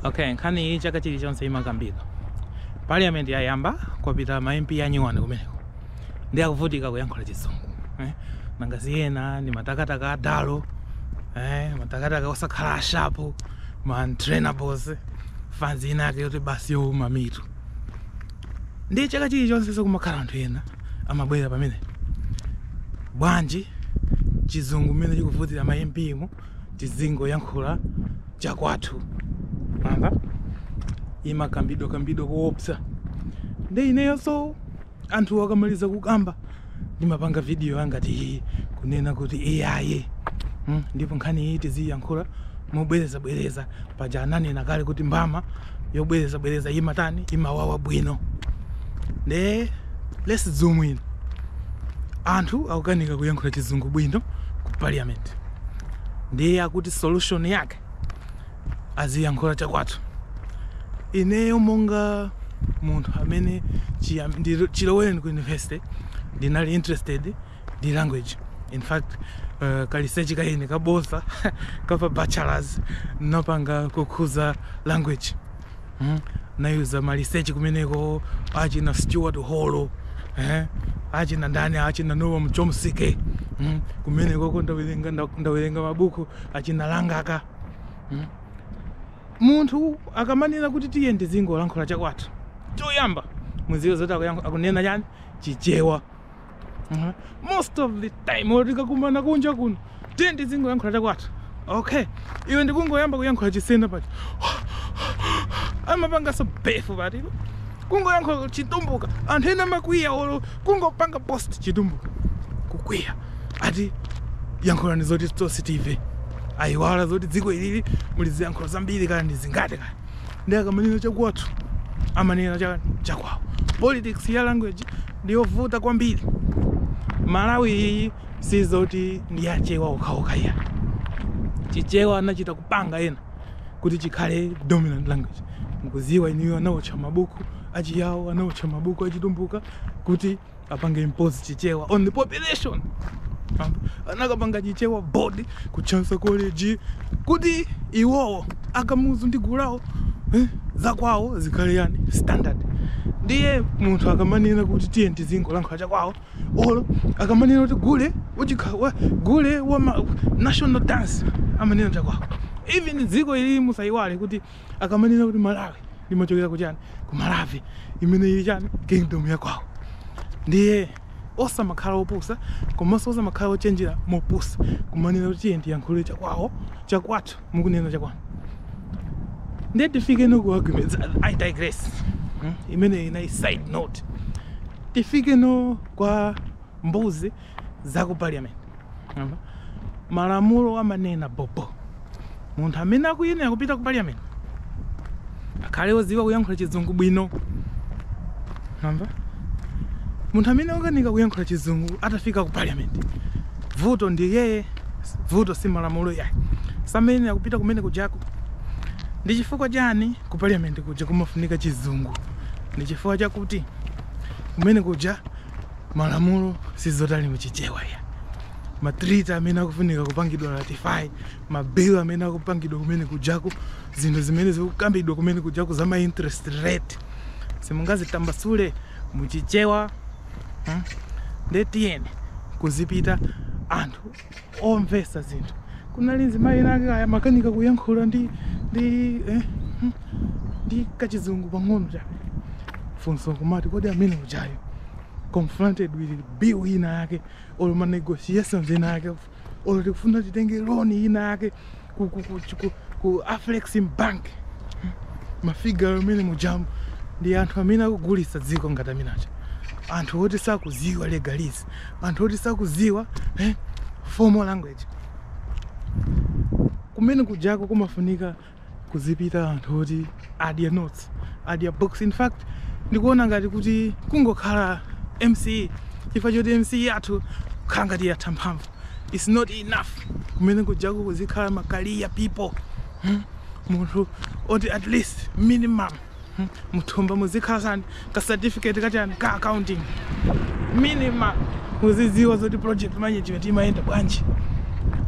okay nkhani iyi chaka chilichonse imakambidwa parliament yayamba kwapita ma mp anyuwani kumeneko ndi akuvutika kuyankhula chizungu eh? nanga ziyena ndi matakataka adalo eh? matakataka osakhala ashapu ma untrainables fanzi ina yake yoti basi youma mitu ndi chaka chilichonse sikumakhala anthu ena amabwera pompano bwanji chizungu mmene chikuvutira ma mp mu tizingoyankhula chakwathu nkhani imakambidwa kambidwa koopsa nde ineyonso anthu akamaliza kukamba ndimapanga vidiyo yangati iyi kunena kuti iyaye mm, ndipo nkhani iyi tiziyankhula mobwerezabwereza paja ananena kale kuti mbama yobwereza bwereza imatani imawawa bwino nde let's zoom in anthu akukanika kuyankhula chizungu bwino ku parliament ndiye akuti solution yake aziyankhula chakwathu ineyo monga munthu amene chiyam- ndilo- chilowereni ku university ndinali interested ndi language in fact uh, ka research kaine kabodza kapa bachelors ndinapanga kukhuza language hmm? ndinayuza ma research kumeneko achina stuart hall eh? achina ndani achina noam chomsky hmm? kumenekoko ndawerenga ndawerenga mabuku achina langaka hmm? munthu akamanena kuti tiyeni tizingolankhula chakwathu choyamba muziwe zoti akunena chani chichewa Uh-huh. most of the time ukakumana kunja kuno tiyeni tizingoyankhula chakwathu okay iwe ungoyamba kuyankhula chisena pati amapanganso befu pati kungoyankhula chitumbuka anthu ena amakwiya olo kungopanga post chitumbuka kukwiya ati yankhulani zoti tonse tive ayiwala zoti dziko ilili muli ziyankhulo zambiri kaya ndi zingati kaya ndi akamanena chakwathu amanena cha- chakwawo politics ya language ndiyovuta kwambiri malawi iyi sizoti ndi ya achewa okhaokha iyayi chichewa anachita kupanga ena kuti chikhale dominant language mukuziwa inuyo anaotcha mabuku achiyawo anaotcha mabuku achitumbuka kuti apange impose chichewa on the population anakapanga chichewa board ku chancellor college kuti iwowo akamuzu ndi gulu lawo eh, zakwawo zikhale yani standard ndiye munthu akamanena kuti tiyeni tizingolankhula chakwawo olo akamanena kuti gule uchikha wa- gule wa ma- national dance amanena chakwawo even dziko ili musayiwale kuti akamanena kuti malawi limachokera kuchani ku maravi imene ili chani kingdom yakwawo ndiye osamakhala opusa komanso osamakhala ochenjera mopusa kumanena kuti tiyeni tiyankhule chakwawo chakwathu mukunena chakwanu ndiye tifike no ku arguments i digress hmm? imeneyi inali side note tifike no kwa mbuzi za ku parliament Mwamva? malamulo amanena bobo munthu amene akuyenera kupita ku parliament akhale oziwa kuyankhula chizungu bwino Mwamva? munthu amene akukanika kuyankhula chizungu atafika ku parliament vuto ndi yeye vuto si malamulo yayi samayenera kupita kumene kujaku ndi chifukwa chani ku parliament kuja kumafunika chizungu ndi chifukwa chakuti kumene kuja Malamulo sizoti ali mu Chichewa iya. Ma treaty amene akufunika kupangidwa ratify, ma bill amene akupangidwa kumene kujaku, zinthu zimene zikukambidwa kumene kujaku za ma interest rate, simungazitambasule mu Chichewa. Nde tiyeni kuzipita anthu omvesa zinthu kunali nzimayi winake kaya amakanika kuyankhula ndi ndi eh, hmm, ndi kachizungu pang'ono chabe funso kumati kodi amene ujayo confronted with bill ina yake olo ma negotiations ina yake olo tikufuna titenge loan ina yake ku, ku, ku, ku, ku Afrexim Bank mafigure amene mujamu ndi anthu amene akugulitsa dziko ngati amenewo anthu oti sakuziwa legalese anthu oti sakuziwa eh, formal language kumene kujako kumafunika kuzipita anthu oti adya notes adya books in fact ndikuona ngati kuti kungokhala MSCE chifukwa choti MSCE yathu ikukhala ngati yatha mphamvu it's not enough kumene kujaku kuzikhala ma career people hmm? munthu oti at least minimum hmm? muthumba muzikhala chani ka certificate kachani ka accounting minimum muzidziwa zoti project management imayenda bwanji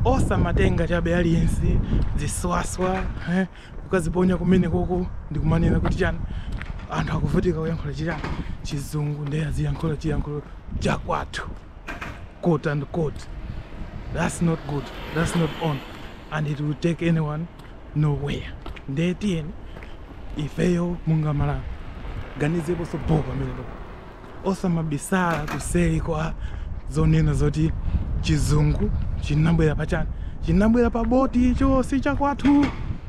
osamatenga chabe aliyense ziswaswa eh? kukaziponya kumene koko ndikumanena kuti chani anthu akuvutika kuyankhula chichani chizungu nde aziyankhula chiyankhulo chakwathu quote and quote that's not good that's not on and it will take anyone nowhere ndiye tiyeni ifeyo monga Amalawi tiganizeponso bho pamenepo osamabisala kuseri kwa zonena zoti chizungu chinabwera pachani chinabwera pa boti icho si chakwathu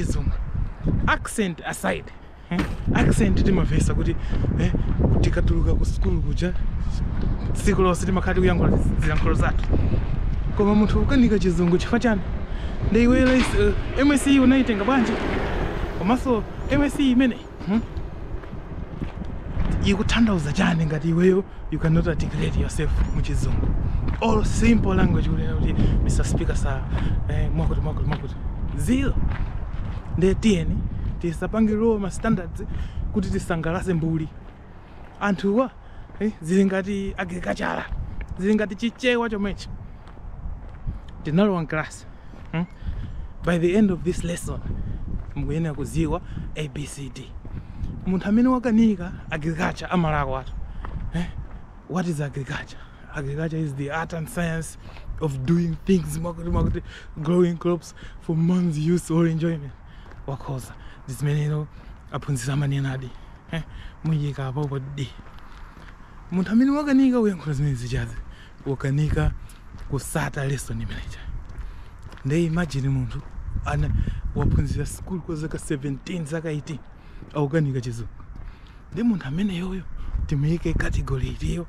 chizungu accent aside eh? accent timamvetsa kuti eh? tikatuluka ku sukulu kuja tsiku lonse timakhala tikuyankhula zilankhulo zathu koma munthu ukukanika chizungu chifukwa chani ndi iwe uh, MSCE unaitenga bwanji komanso MSCE imeneyi Hmm? ikutanthauza chani ngati iweyo you cannot articulate yourself muchizungu or simple language kunena kuti mr speaker sir eh, mwakuti mwakuti mwakuti zero nde tiyeni tisapange lower ma standards kuti tisangalase mbuli anthuwa eh, zili ngati agriculture zili ngati chichewa chomwechi ndinalowa class hmm? by the end of this lesson mukuyenera kuziwa abcd munthu amene wakanika agriculture amalako watu eh? what is agriculture agriculture is the art and science of doing things mwakuti mwakuti growing crops for man's use or enjoyment wakhoza ndi zimenezo aphunzitsi amanenadi eh, muyikapopo D munthu amene wakanika kuyankhula zimenezi chizi wakanika kusata lesson imeneja nde imagine munthu ana waphunzira sikulu kwa zaka 17 zaka 18 akukanika chizungu ndi munthu ameneyoyo timuyike category iti uyo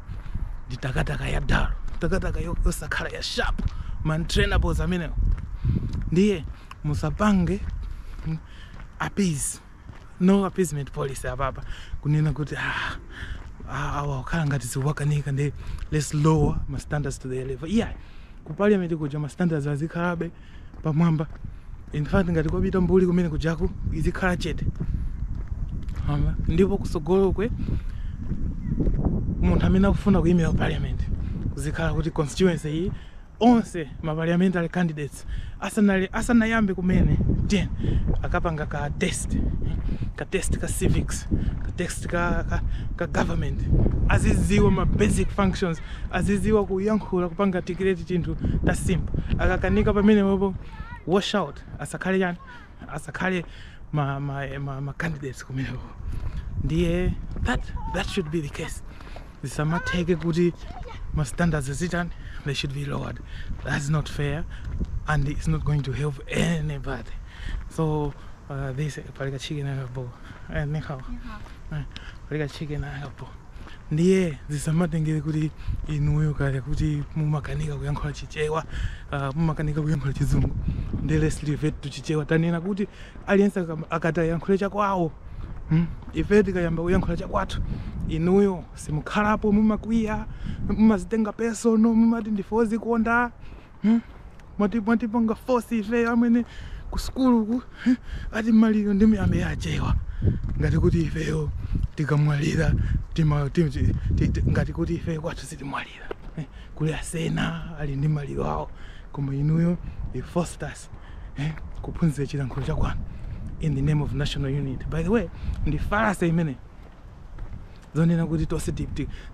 ndi takataka ya dull takataka yo- yosakhala ya sharp ma untrainables amenewo ndiye musapange mm, appease no appeasement policy apapa kunena kuti ah, ah, awa ukhala ngati zikuwakanika ndi let's lower ma standards to their level iyayi ku parliament kuja ma standards azikhalabe pamwamba in fact ngati kwapita mbuli kumene kujaku izikhala chete Mwamva? ndipo kusogolokwe munthu amene akufuna kuyimira parliament kuzikhala kuti constituency iyi onse ma parliamentary candidates asanali asanayambe kumene then akapanga ka test eh, ka test ka civics ka test ka, ka, ka government aziziwa ma basic functions aziziwa kuyankhula kupanga articulate tinthu ta simple akakanika pamenepopo wash out asakhale chani asakhale ma, ma, ma, ma candidates kumeneko ndiye that, that should be the case zisamatheke kuti ma standards azitani they should be lowered that's not fair and it's not going to help anybody so uh, this palika chicken and a bowl eh, ni hao. Eh, palika chicken and a bowl Ndiye zisamatengere kuti inuyo kaya kuti mumakanika kuyankhula Chichewa, ah, mumakanika kuyankhula Chizungu. Ndiye let's revert to Chichewa. Tanenani kuti aliyense akam- akati ayankhule chakwawo, mm, ifeyo tikayamba kuyankhula chakwathu, inuyo simukhalapo, mumakwiya, mumazitenga personal, mumati ndife ozikonda. Hmm? Mwati mwatipanga force ife amene ku sukulu ku hmm? ati maliro ndi miyambi ya achewa ngati kuti ifeyo tikamwalira tima- ti- ti- ti- ti- ngati kuti ifeyo kwathu sitimwalira eh? kuli asena ali ndi maliro awo koma inuyo you forced us eh? kuphunzira chilankhulo chakwanu in the name of national unity by the way ndi fallacy imene zonena kuti tonse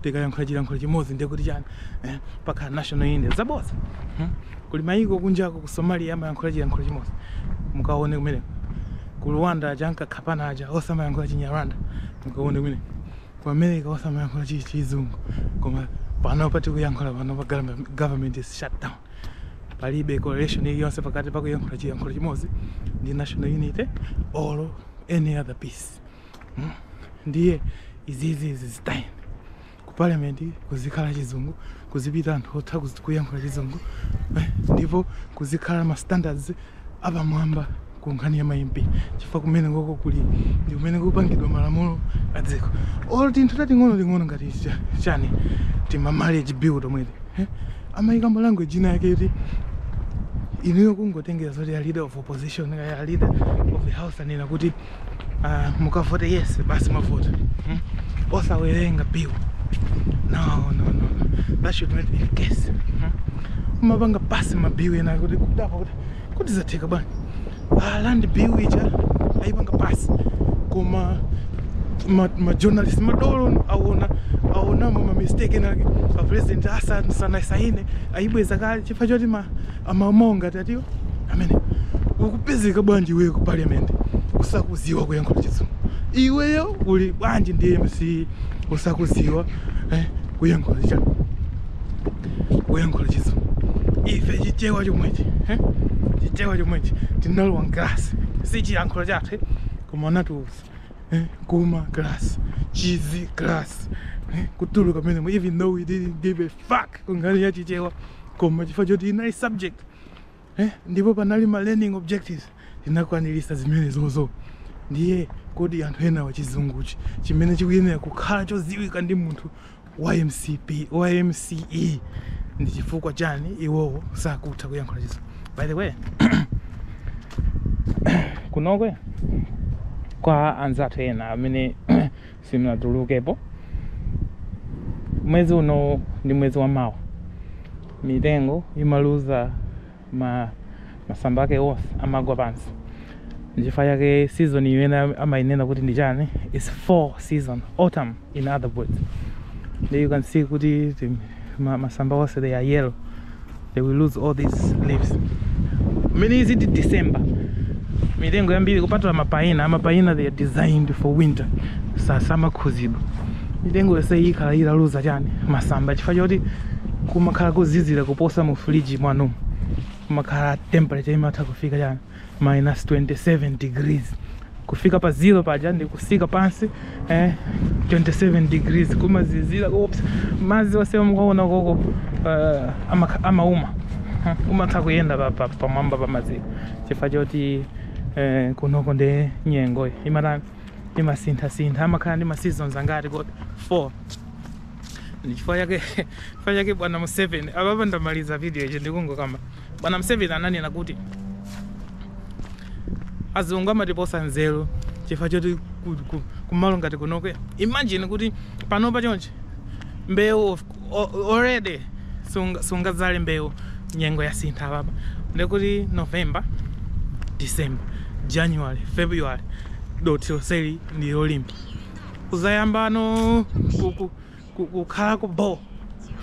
tikayankhula chilankhulo chimodzi ndiye kuti chani eh, pakhala national unity zabodza hmm? kuli mayiko kunjako ku somalia amayankhula chilankhulo chimodzi mukaone kumeneko ku rwanda aja ankakhapana aja onse amayankhula chinyarwanda mukaone kumene ku america onse amayankhula chizungu koma panopa tikuyankhula panopa government is shut down palibe correlation iliyonse pakati pakuyankhula chilankhulo chimodzi ndi national unity or any other peace Hmm? ndiye izizi zizitayeni ku parliament kuzikhala chizungu kuzipita anthu otha kuzi- kuyankhula chizungu eh, ndipo kuzikhala ma standards apamwamba ku nkhani ya ma MP chifukwa kumenekoko kuli ndi kumene kupangidwa malamulo a dziko olo tinthu tating'ono ting'ono ngati cha- chani tima marriage bill tomweti eh? amayika mu language ina yake yoti inuyo kungotengera zoti a leader of opposition kaya a leader of the house anena kuti uh, mukavote yes basi mwavota hmm? osawerenga bill no no no that should not be the case hmm? umapanga basi mabill ena kuti kudabwa kuti kuti zatheka bwanji land ah, bill ija ayipanga basi koma majournalist ma madolo awona awonamo mamistake enake apresident asanasaine ayibweza kale chifukwa choti ma amawo ngati atiwo amene ukupezeka bwanji iweyo ku parliament usakuziwa kuyankhula chizungu iweyo uli bwanji ndi mce usakuziwa eh, kuyankhula cha kuyankhula chizungu ife chichewa chomwechi eh? chichewa chomwechi tinalowa mkalasi si chiyankhulo chathu eh? koma anatiuza eh? kuma class chizi class eh? kutuluka pamene even though we didn't give a fuck kunkhani ya chichewa koma chifukwa choti inali subject eh, ndipo panali ma learning objectives tinakwanirisa zimenezozo ndiye kodi anthu enawa chizunguchi chimene chikuyenera kukhala choziwika ndi munthu wa mcp wa mce ndi chifukwa chani iwowo sakutha kuyankhula chizungu by the way kunoko kwa anzathu ena amene simunatulukepo mwezi unowu ndi mwezi wa mawa mitengo imaluza ma masamba ake onse amagwa pansi nchifukwa chake season imene amainena kuti ndi chani is fall season autumn in other words there you can see kuti masamba onse they are yellow they will lose all these leaves mmene is it december mitengo yambiri kupatula mapaina amapaina they are designed for winter sasamakhuzidwa mitengo yonse ikhala italuza chani masamba chifukwa choti kumakhala kuzizira kuposa mu fridge mwanu kumakhala temperature imatha kufika chani minus 27 degrees kufika pa zero paja ndi kutsika pansi eh, 27 degrees kumazizira oops madzi onse mukuona kukoko uh, ama- amauma Hmm, umatha kuyenda pa- pa- pamwamba pa madziwo chifukwa choti eh, kunoko ndi nyengo imatani imasinthasintha amakhala ndi ma seasons angati kodi 4 ndichifukwa chake chifukwa chake bwana museveni apapa ndamaliza video izi ndikungokamba Bwana Mseveni ananena kuti, Azungu amatiposa nzeru chifukwa choti kumalo ngati kunoko, imagine kuti panopa chonchi mbewu already sungadzale mbewu nyengo yasintha apapa ndekuti November, December, January, February dothi lonseli ndi lolimba. Uzayambano ku- kukhalako bo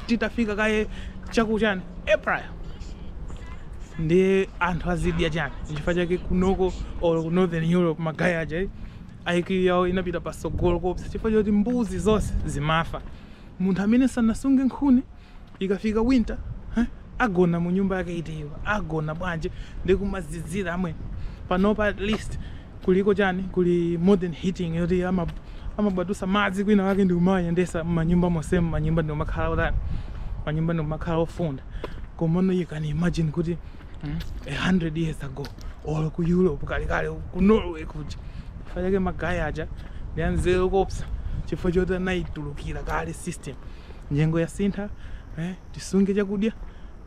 titafika kaye chakuchani april ndiye anthu azidya chani chifukwa chake kunoko or northern europe magaya aja eh, IQ yawo inapita patsogolo kopsa chifukwa choti mbuzi zonse zimafa munthu amene sanasunge nkhuni Ikafika winter huh? Agona munyumba yake iti iyo? Agona bwanji ndi kumazizira amwene. Panopa at least kuliko chani kuli modern heating yoti ama amabwatusa madzi kwinakwake ndi kumawayendetsa mmanyumba monsemu manyumba ndi kumakhala otani manyumba ndi kumakhala ofunda komano you can imagine kuti mm, 100 years ago or ku Europe kalekale ku Norway kuja chifukwa chake magaya aja ndi anzeru kopsa chifukwa choti anayitulukira kale system nyengo yasintha eh, tisunge chakudya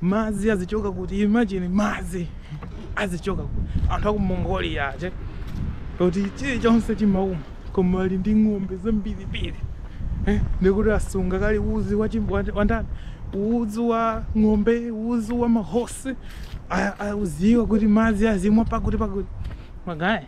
madzi azichoka kuti imagine madzi azichoka kuti anthu aku mongolia aje kuti chilichonse chimauma koma ali ndi ng'ombe zambirimbiri eh, ndikuti asunga kale udzu wa chim- wa- wa ndani udzu wa ng'ombe udzu wa mahosi a- adziwa kuti madzi azimwa pakuti pakuti magaya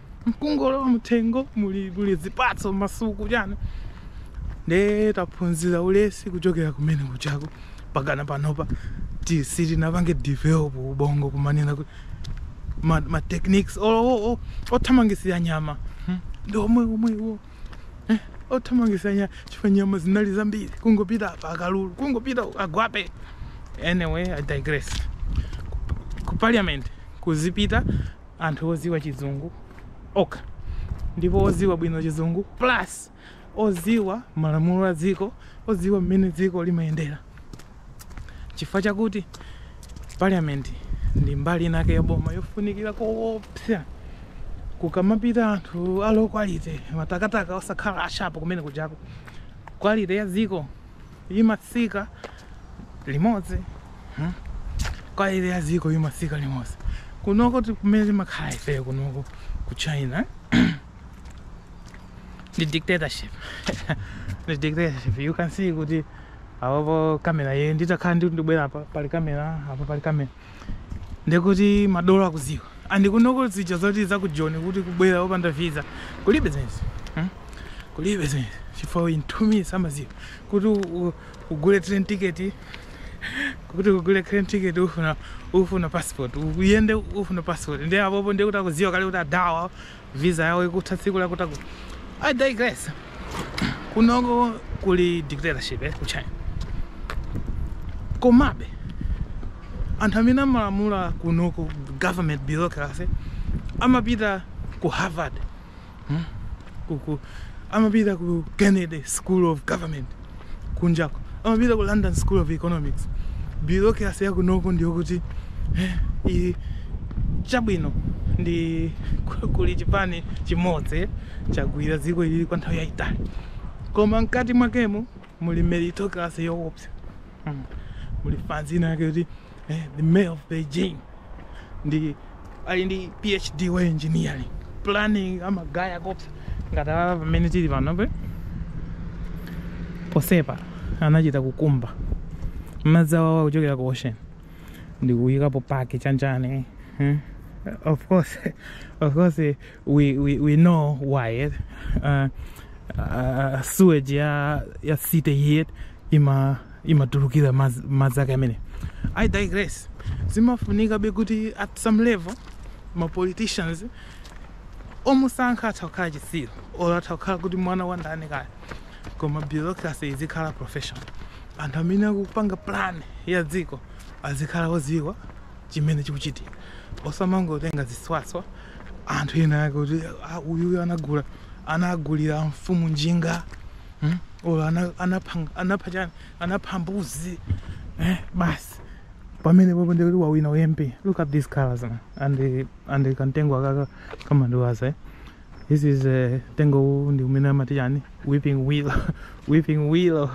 nkungolowa mtengo muli muli zipatso masuku chani nde taphunzira ulesi kuchokera kumene kujako mpakana panopa ti- sitinapange develop ubongo kumanena kuti ma, ma techniques o- o- o- othamangisira nyama hmm, ndi omwe omwewo eh, othamangisira nyama chifukwa nyama zinali zambiri kungopita apa akalulu kungopita uku, agwape anyway i digress ku parliament kudzipita anthu oziwa chizungu okha ndipo oziwa bwino chizungu plus oziwa malamulo a dziko oziwa mmene dziko limayendera chifukwa chakuti parliament ndi mbali inake ya boma yofunikira koopsa kukamapita anthu a low quality matakataka osakhala ashapu kumene kujaku quality ya dziko imatsika limodzi hmm? quality ya dziko imatsika limodzi kunoko kumene timakhala ifeyo kunoko ku china the dictatorship the dictatorship you can see kuti apopo kamera ye nditakhala ndi ndibwera apa pali kamera apa pali kamera ndekuti madolo akuziwa and kunoko zija zoti za ku Joni kuti kubwera opanda visa kulibe zimenezi hmm? kulibe zimenezi chifukwa in 2 minutes amaziwa kuti ugule train ticket kuti ugule train ticket ufuna ufuna passport uyende ufuna passport ndi apopo ndi kuti akuziwa kale kuti adawa visa yawo ikutha tsiku lakutaku i digress kunoko kuli dictatorship eh, ku china komabe anthu amene amalamula kunoko government bureaucracy amapita ku harvard hmm? kuku amapita ku kennedy school of government kunjako amapita ku London School of Economics. Bureaucracy ya kunoko ndi yokuti eh, iyi chabwino ndi ku- kuli chipani chimodzi chagwira dziko ili kwa nthawi yayitali koma mkati mwakemo muli meritocracy yoopsa mm. muli fanzina yake kuti eh, the mayor of beijing ndi ali ndi phd wa engineering planning amagaya koopsa ngati awa pamene tili panope posepa anachita kukumba madzi awawa kuchokera ku ocean ndikuyikapo paki chanjani hmm? of course of course eh, we, we, we know why eh? uh, uh, sewage ya, ya city yet ima imatulukira madzi madzi ake amene i digress zimafunikabe kuti at some level ma politicians omusankha atha kukhala chitsiru or atha kukhala kuti mwana wa ndani kaya koma bureaucracy izikhala professional anthu amene akupanga plan ya dziko azikhala odziwa chimene chikuchitika osamangotenga ziswaswa anthu ena ake kuti "Ah, uyuyu anagula anagulira mfumu njinga hmm? olo anapha anapha chani anapha mbuzi eh? basi pamene popo ndikuti wawina u mp look at these colors man and and kantengo akaka kamandiwaza eh? this is uh, mtengo uwu ndi umene amati chani weeping willow weeping willow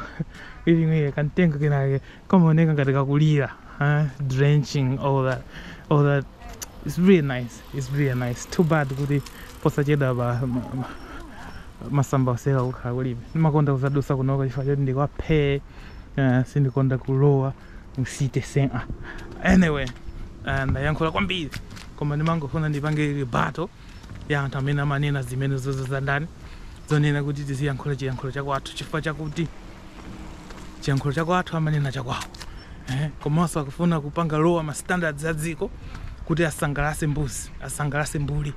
weeping willow kantengo kenake kamaoneka ngati kakulira eh? drenching all that all that it's really nice is really nice too bad kuti posachedwa pa masamba onsewa kukhala kulibe ndimakonda kuzadusa kunoko chifukwa choti ndikwaphee uh, eh, sindikonda kulowa musite sena anyway eh, ndayankhula kwambiri koma ndimangofuna ndipange rebuttal ya anthu amene amanena zimene zozo za ndani zonena kuti tiziyankhula chiyankhulo chakwathu chifukwa chakuti chiyankhulo chakwathu amanena chakwawo eh? komanso akufuna kupanga lower ma standards a dziko kuti asangalase mbuzi asangalase mbuli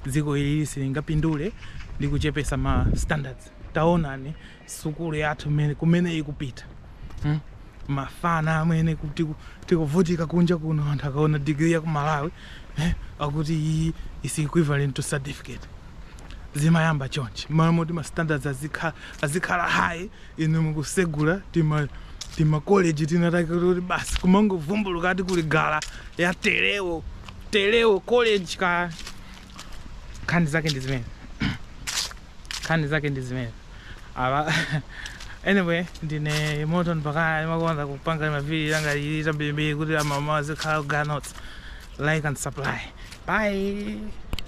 dziko ili silingapindule ndi kuchepesa ma standards taonani sukulu yathu mene- kumene ikupita hmm? mafana amene ku- tiku- tikuvutika kunja kuno anthu akaona digiri ya ku malawi eh? akuti iyi is equivalent to certificate zimayamba chonchi mmalo moti ma standards azikha- azikhala high inu mukusegula tima tima college tinatake kuti basi kumangovumbuluka ati kuli gala ya telewo telewo college ka nkhani zake ndi zimene nkhani zake ndi zimene apa anyway ndine moto mpakana imakonda kupanga maviri anga ili tambirimbiri kuti amama azikhala ganot like and subscribe bye